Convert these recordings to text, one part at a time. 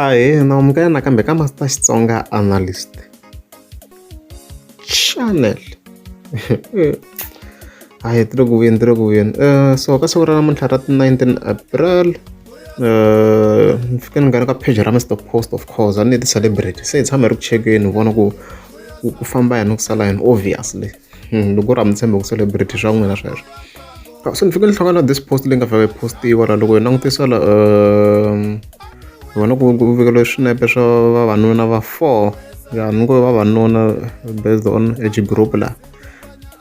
ahee naamukela nakambe ka master xitsonga analyst channel hayi ti le ku vuyeni ti le ku vuyeni um so ka siku ra namuntlha ra ti-nineteen april um ni fike ni nghena ka page ra mr post of course a ni ti-celebrity se hi tshama hi ri ku chekeni hi vona ku ku famba yini ku sala yini obviously hmm, loko u ri a mi tshembe ku celebrity swa n'wina sweswo ah, so ni fike ni hlangana this post leyi nga fake postiwa la loko hi langutisa la um vona ku vikeliwe swinepe swa vavanuna va four ya ni ngo vavanuna based on age group la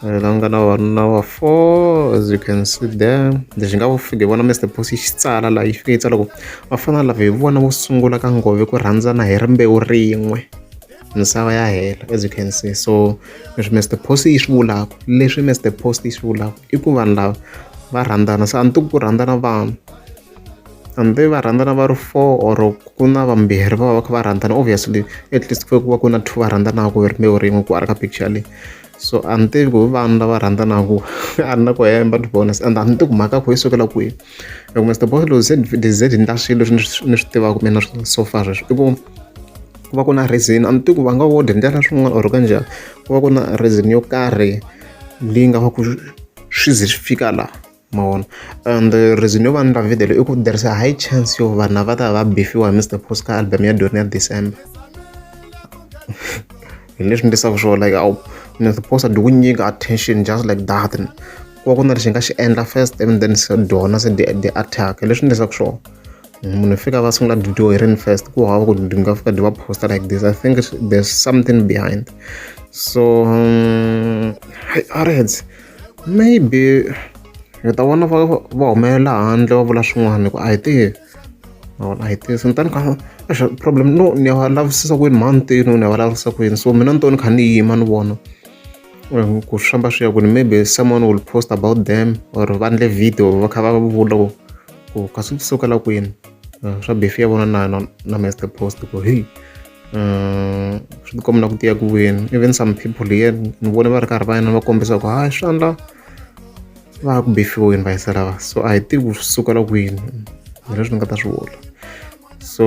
eh, la nga na vavanuna va four as you can see there lexi nga fike vona mr post yi xitsala la yi fike yi tsala ku va fana lava hi vona vo sungula ka ngove ku rhandzana hi rimbewu rin'we misava ya hela as you can see so leswi Mister Post yi swi vulaka leswi Mister Post yi swi vulaka i ku vanhu lava va rhandzana se a ni tiku ku rhandzana vanhu hambi va rhandzana va ri four or ku na vambirhi va va va kha va rhandzana obviously at least ku va ku na two va rhandzanaka hi rimbewu rin'we ku arka picture leyi so a ni tivi ku hi vanhu lava rhandzanaka a ni na ku hemba to be honest and a ni tivi ku mhaka kho yi sukela kwihi loko Mister Boss lowu ze ni ze ni ta swilo leswi ni swi tivaka mina so far sweswi i ku ku va ku na reason a ni tivi ku va nga wo dyondzela swin'wana or ka njhani ku va ku na reason yo karhi leyi nga va ku swi ze swi fika la mavona and reason yo va ni la video i ku there is a high chance yo vanhu lava ta va bifiwa hi mr post ka album ya doni ya december hi leswi ndisaka swona like awu mr post a dyi ku nyika attention just like that ku va ku na lexi nga xi endla first and then se dona se the attack hi leswi ndisaka swona munhu fika va sungula video hi rini first ku hava ku ndi nga fika ndi va posta like this i think there's something behind so um, areds maybe hi ta vona va va humelela handle va vula swin'wana ku a hi tihi mavona a hi tihi sintani ka axa problem no ni ya va lavisisa ku yini mhantini ni ya va lavisisa ku yini so mina ni to ni kha ni yima ni vona ku swi famba swi ya ku ni maybe someone will post about them or va ndle video va kha va vula ku ku ka swi sukela kwini eh, swa befi ya vona na na, na master post ku hi eh, swi tikomela ku tiya ku wini even some people here ni vone va ri karhi va yena va kombisa ku hayi swandla va ku befiweni va yisa lava so a hi tivi ku swi sukela kwini hi leswi ni nga ta swi vula so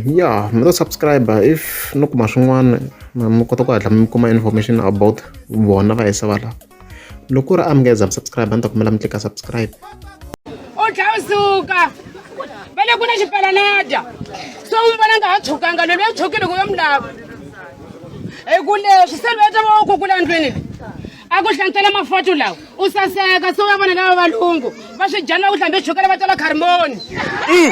ya mi to subscribe if no kuma swin'wana mi kota ku hatla mi kuma information about vona va yisa va lava loko ku ri a mi nga za mi subscribe a ni ta kumela mi tlika subscribe u tlhela u suka va le ku na xipalanada so u vona nga ha tshukanga lweyi a tshukile ku yo mi lava hi ku leswi se lweyi ta va wo kukula ndlwini leyi a ku hlantsela mafoto lawa u saseka se wa vona lava valungu va swi dyana va ku hlambe chukela va tola kharimoni mm,